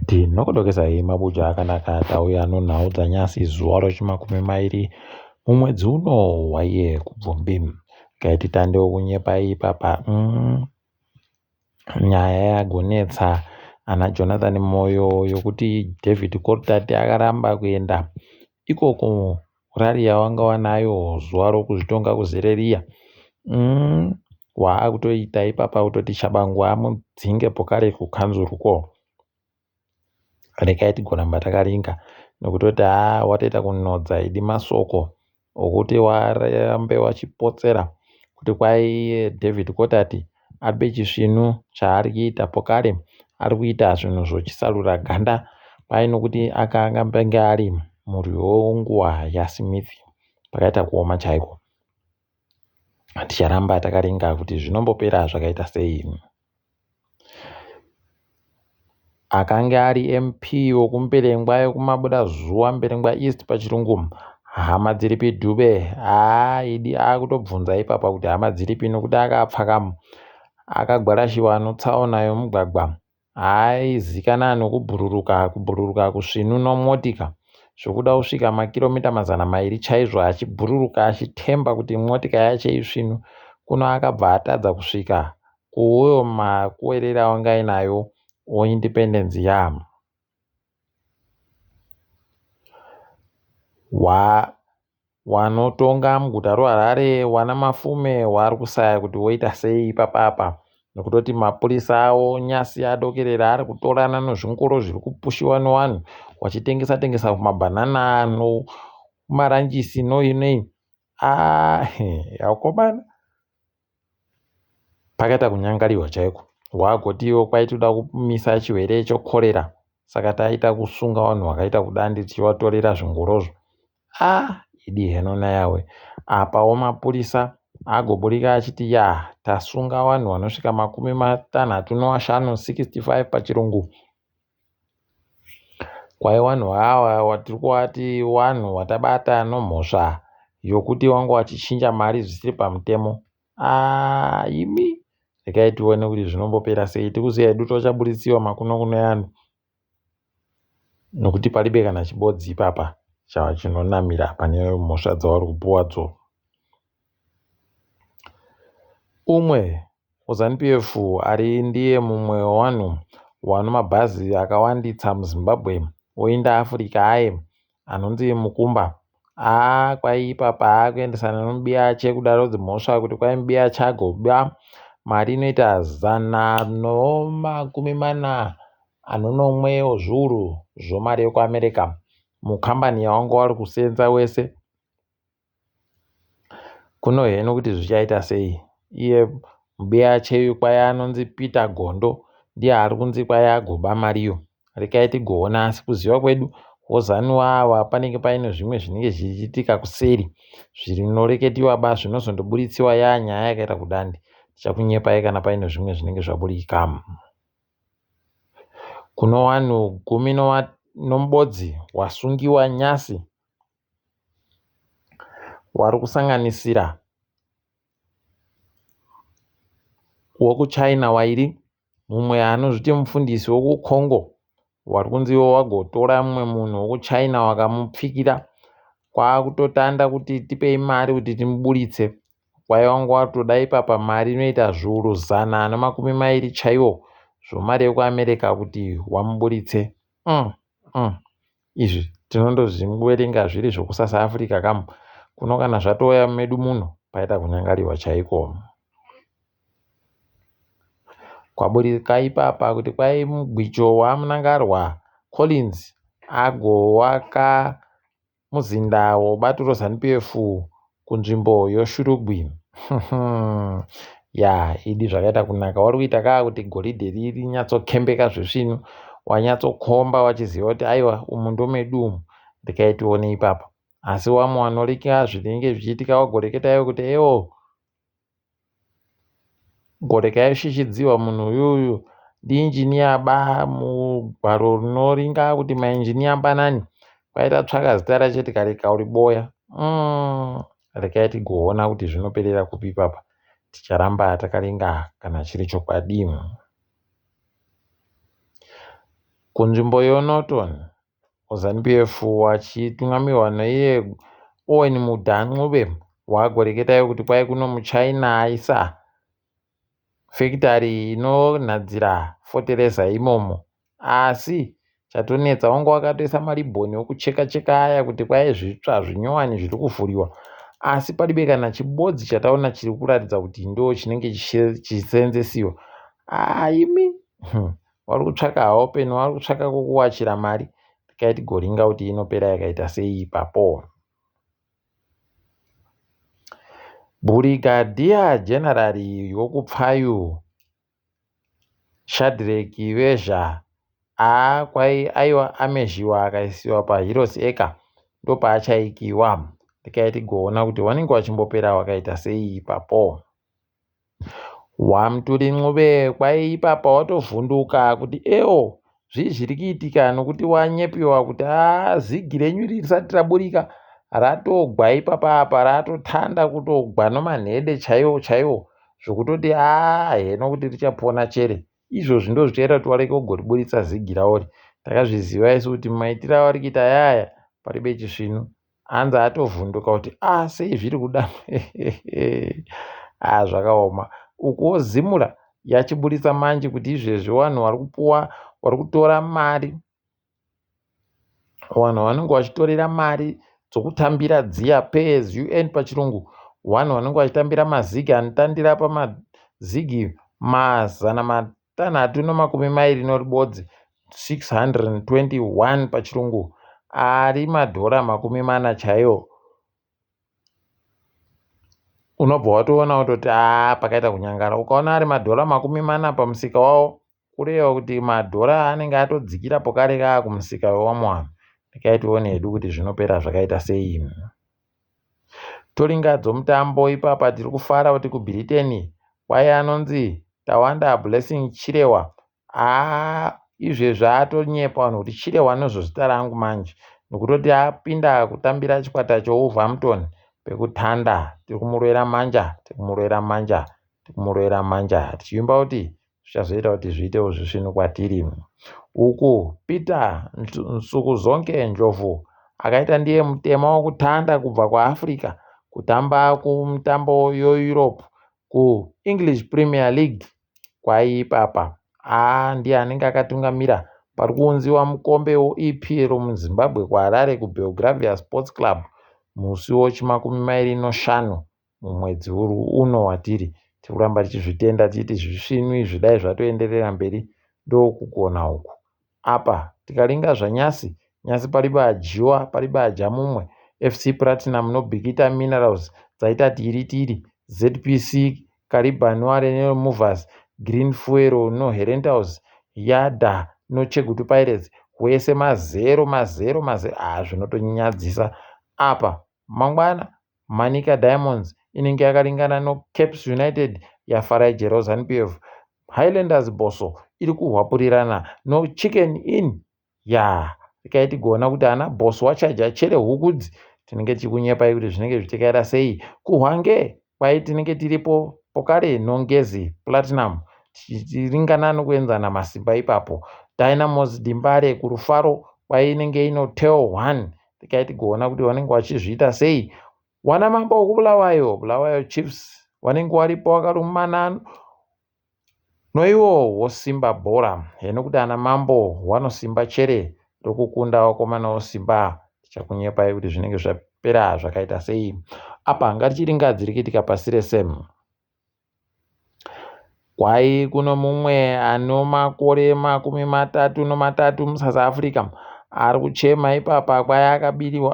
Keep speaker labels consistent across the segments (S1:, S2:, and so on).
S1: Tinokudokedzai hee mabuja akanaka atauya anonhau dzanyasi zuva rechimakumi mairi mumwedzi uno hwaiye kubvumbi. Kaiti tandewo kunyepai ipapa mm. Nyaya yagonetsa ana Jonathan Moyo yokuti David Kortati akaramba kuenda ikoko rari yawanga wanayo zuva rokuzvitonga kuzere riya mm, waakutoita ipapa kutoti chabangu amudzinge pokare kukanzuru ko rekai tigoramba takaringa nokutoti a watoita kunodza idi masoko okuti warambe wachipotsera kuti kwaiye david kotati ari pechisvinu chaari kuita pokari ari kuita zvinhu zvochisarura ganda kwaye nokuti akanga penge ari murwi wenguva yasmith pakaita kuoma chaiko ticharamba takaringa kuti zvinombopera zvakaita sei akange ari MP wokuMberengwa yekumabuda zuva Mberengwa East pachirungu hama dziripi Dube haa idi akutobvunza ipapa kuti hama dziripi nokuti akapfaka akagwarashiwa anotsaona yomugwagwa aizikana nokubhururuka kubhururuka kusvinu nomotika zvokuda kusvika makiromita mazana mairi chaizvo achibhururuka achitemba kuti motika yache isvinu kuno akabva atadza kusvika kuuyo makuwerera wanga inayo wo independence yam wa wanotonga muguta roharare wana mafume waari kusaya kuti woita sei ipapapa nokutoti mapurisa awo nyasi adokerera ari kutorana nozvingoro zviri kupushiwa newanhu wachitengesa tengesa kumabhanana ano kumaranjisi noinei ah yakomana pakaita kunyangariwa chaiko waagoti iwo kwaitoda kumisa chirwere chokorera saka taita kusunga vanhu vakaita kudandi tichivatorera zvingorozvo a ah, idi heno nayawe apawo mapurisa agoburika achiti ya tasunga vanhu vanosvika makumi matanhatu nowashanu 65 pachirungu Kwaiva vanhu ava vatiri kuvati vanhu vatabata nomhosva yokuti vanga vachichinja mari zvisiri pamutemo aah imi regai tione kuti zvinombopera sei tiri kuziya hedu kuti vachabuditsiwa makunokuno evanhu nokuti paribe kana chibodzi ipapa chinonamira pane mhosva dzavari kupuwadzo Umwe weZanu PF ari ndiye mumwe wevanhu vane mabhazi akawandisa muZimbabwe oinda Africa aye anonzi Mukumba aah kwaiipa paakuendesa nemubiyache kudaro dzimhosva kuti kwai mubiyache agoba mari inoita zana nemakumi mana nenomwe wezviuru zvemari yekuAmerica mukambani yavanga vari kuseenza wese. Kuno heno kuti zvichaita sei iye mbuya cheyu kwaya anonzi Peter Gondo ndiye ari kunzi kwaya agoba mariyo regai tigoona asi kuziva kwedu VaZanu ava panenge paine zvimwe zvinenge zvichiitika kuseri zvinoreketiwa ba zvinozondoburitsewa yaa nyaya yakaita kudandi ndichakunyepai kana paine zvimwe zvinenge zvaburika kuno vanhu gumi nomubodzi wasungiwa nyasi wari kusanganisira wekuChina wairi mumwe anozviti mufundisi wekuCongo wari kunzi iwo wagotora mumwe munhu wekuChina wakamupfikira kwaakutotanda kuti tipei mari kuti timuburitse kwaiva wanga watoda ipapa mari inoita zviuru zana nemakumi mairi chaiwo zvomari yekuamerica kuti wamuburitse mm, mm. izvi tinondozviwerenga zviri zvokusasa Africa kam kuno kana zvatouya medu muno paita kunyangariwa chaiko kwaburika ipapa kuti kwai mugwicho wamunangarwa Collins agowaka muzinda wobaturo zanupf kunzvimbo yoShurugwi ya idi zvakaita kunaka wari kuita kaa kuti goridhe riri rinyatsokembeka zvesvinu wanyatsokomba wachiziva kuti aiwa umu ndomedu umu ndikaitione ipapo asi wamwe wanorika zvinenge zvichiitika wagoreketa iwe kuti eo Goreka yashishidziwa munhu uyuyu ndi engineer ba mugwaro rinoringa kuti ma engineer mbanani kwai tatsvaka zita racho tikarega uri boya umm regai tigoona kuti zvinoperera kupi ipapa ticharamba takaringa kana chiri chokwadi kunzvimbo yoNorton muZanu PF vachitungamirwa naiye Owen Mudha Ncube vagoreketawo kuti kwai kuno muChina aisa fekitari inonhadzira fotereza imomo asi chatonetsa wanga wakatoisa maribhoni okucheka cheka aya kuti kwai zvitsva zvinyowani zviri kuvhuriwa asi palibe kana chibodzi chataona chiri kuratidza kuti ndo chinenge chichiseenzesiwa aimi hmm. vari kutsvaka haopen vari kutsvaka kukuwachira mari tikai tigoringa kuti inopera yakaita sei ipapo bhurigadiya generari yokupfayu shadreki vezha aa kwai aiwa amezhiwa akaisiwa paheroes eka ndopaachaikiwa tikai tigoona kuti wanenge wachimbopera wakaita sei ipapo Wamturi Ncube kwaipapa watovhunduka kuti ewo zvii zviri kuitika nokuti wanyepiwa kuti aa zigi renyu iri risati raburika ratogwa ipapa apa ratotanga kutogwa nomanhede chaiwo chaiwo zvokutoti aa heno kuti richapona chere izvozvi ndozvichaita kuti varege kugoriburitsa zigi ravo iri takazviziva isu kuti maitire avari kuita ayaya paribe chisvinu hanzi atovhunduka kuti a ah, sei zviri kuda a ah, zvakaoma ukuwo zimura yachiburitsa manje kuti izvezvi vanhu vari kupuwa vari kutora mari vanhu vanenge vachitorera mari dzokutambira dziya payers un pachirungu vanhu vanenge vachitambira mazigi anotandira pamazigi mazana Tanhatu nemakumi mairi noribodzi 621 pachirungu ari madhora makumi mana chaiyo unobva watoona wototi aa pakaita kunyangara ukaona ari madhora makumi mana pamusika wawo kureva kuti madhora anenge atodzikira pokare kaa kumusika wewamwe vanhu ndikaitionedu kuti zvinopera zvakaita sei Tolinga dzomutambo ipapa tiri kufara kuti kuBritain kwaye anonzi Tawanda Blessing Chirewa aa izvezvi atonyepa vanhu kuti Chirewa ndizvo zita rangu manje nekutoti apinda kutambira chikwata cheWolverhampton pekutanda tiri kumurwera manja tiri kumurwera manja tiri kumurwera manja tichiimba kuti zvichazoita kuti zviitewo zvisvinu kwatiri. Uku Peter Nsukuzonke Ndlovu akaita ndiye mutema wokutanda kubva kuAfrica kutamba kumitambo yoEurope kuEnglish Premier League kwaiipapa. Aa ndiye anenge akatungamira pari kuunziwa mukombe weEPL muZimbabwe kuHarare kuBelgravia Sports Club musi wochimakumi mairi noshanu mumwedzi uri uno watiri tiri kuramba tichizvitenda tichiti zvisvinu izvi dai zvatoenderera mberi ndokugona uku apa tikalinga zvanyasi nyasi palibe adyiwa palibe adya mumwe fc platinum nobikita minerals dzaita tiri tiri zpc caliban warenero movers green fuero noherentals yada nochegutu pirates wese mazero mazero mazero haa ah, zvinotonyadzisa apa mangwana Manica Diamonds inenge yakaringana noCaps United yaFarage Rozanpiev. Highlanders Bosso iri kuhwapurirana noChicken Inn. Yaa, regai tigoona kuti ana Bosso wachaja chere hukudzi tinenge tichikunyepai kuti zvinenge zvichitekaira sei kuhwange kwai tinenge tiripo pokare nongezi platinum tichiringana nokuenzana masimba ipapo dynamos dimbare kurufaro kwai inenge ino tel one tikai tigoona kuti vanenge vachizviita sei wana mambo wokubulawayo bulawayo chiefs vanenge varipo vakarumana noiwo wosimba bhora heno kuti ana mambo wanosimba chere rokukunda wakomana wosimba tichakunyepai kuti zvinenge zvapera zvakaita sei apa ngatichiringadzirike tikapasi rese Kwahi kuno mumwe ane makore makumi matatu nematatu muSouth Africa ari kuchema ipapa kwahi akabiriwa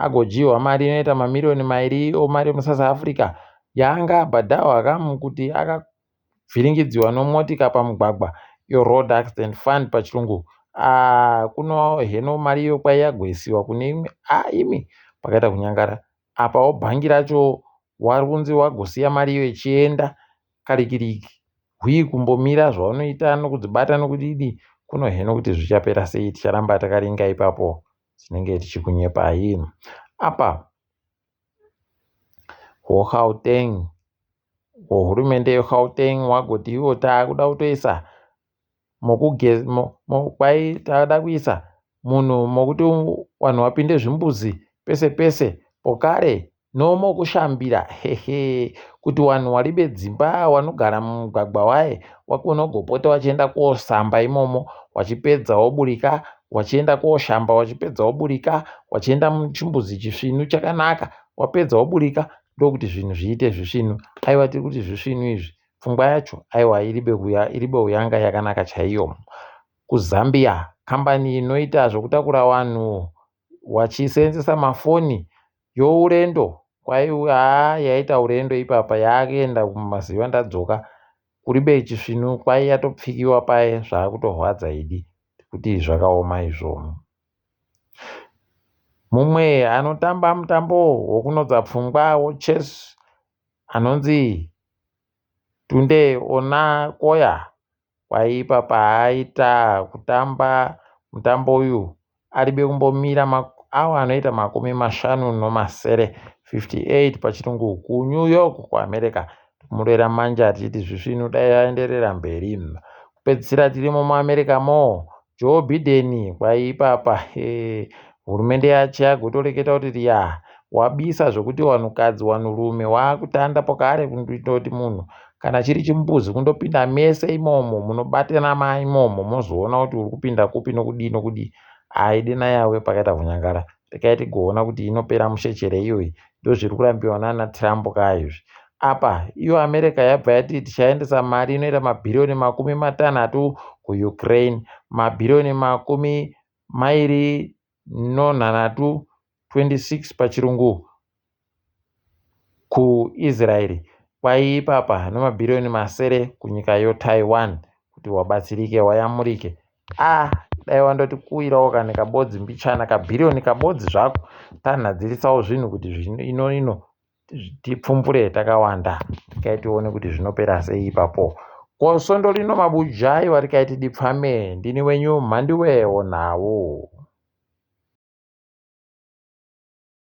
S1: agodyiwa mari inoita mamiriyoni mairi omari muSouth Africa yaanga abhadharwa kamu kuti akavhiringidzwa nemotika pamugwagwa iyo road accident fund pachirungu kuno heno mari iyo kwahi yagwesiwa kune imwe haa imi pakaita kunyangara. apawo bhangi racho warikunzi wagosiya mari iyo ichienda karikiriki hwii kumbomira zvaunoita nokudzibata nokudidi kunoheno kuti zvichapera sei ticharamba takaringa ipapo tinenge tichikunyepai apa hwogauteng hwohurumende yegauteng wagoti ivo taakuda kutoisa tavada kuisa munhu mokuti vanhu vapinde zvimbuzi pese pese pokare no mokushambira hehe kuti vanhu vari vedzimba vanogara mumugwagwa waye wakona kugopota vachienda kosamba imomo vachipedza voburika vachienda koshamba vachipedza voburika vachienda muchimbuzi chisvinu chakanaka wapedza woburika ndokuti zvinhu zviite zvisvinu aiwa tiri kuti zvisvinu izvi pfungwa yacho aiwa iribe kuya iribe uyanga yakanaka chaiyo kuzambia kambani inoita zvekutakura vanhu vachiseenzesa mafoni yourendo kwaiwa haa yaita urendo ipapa yakuenda kumaziva ndadzoka kuribe chisvinu kwai yatopfikiwa paye zvakutorwadza idi kuti zvakaoma izvoo mumwe anotamba mutambo wokunodza pfungwa wochess anonzi Tunde ona koya kwaipa paaita kutamba mutambo uyu aribe kumbomira maawa anoita makumi mashanu nomasere 58 pachirungu kuNew York kuAmerica tikumurera manje achiti zvisvinu dai aenderera mberi kupedzisira tirimo muAmerica mo Joe Biden kwaiipapa eh, hurumende yacho yagotoreketa kuti riya wabisa zvokuti wanhukadzi wanhurume waakutanda pokare kunditoti munhu kana chiri chimbuzi kundopinda mese imomo munobatana ma imomo mozoona kuti uri kupinda kupi nokudii nokudii aidena yawe pakaita kunyangara Regai tigoona kuti inopera mushe chere iyoyi ndozviri kurambiwa nana Trump ka izvi. Apa iyo America yabva yati tichaendesa mari inoita mabhiriyoni makumi matanhatu kuUkraine, mabhiriyoni makumi mairi nonhanhatu 26 pachirungu kuIsraeri kwaiipapa nemabhiriyoni masere kunyika yoTaiwan kuti wabatsirike wayamurike ah dai wandoti kuwirawo kane kabodzi mbichana kabhiriyoni kabodzi zvako tanhadzirisawo zvinhu kuti ino ino tipfumpure takawanda tikai tione kuti zvinopera sei ipapo ko svondo rino mabujai varikai tidipfame ndini wenyu mhandiwewo nhau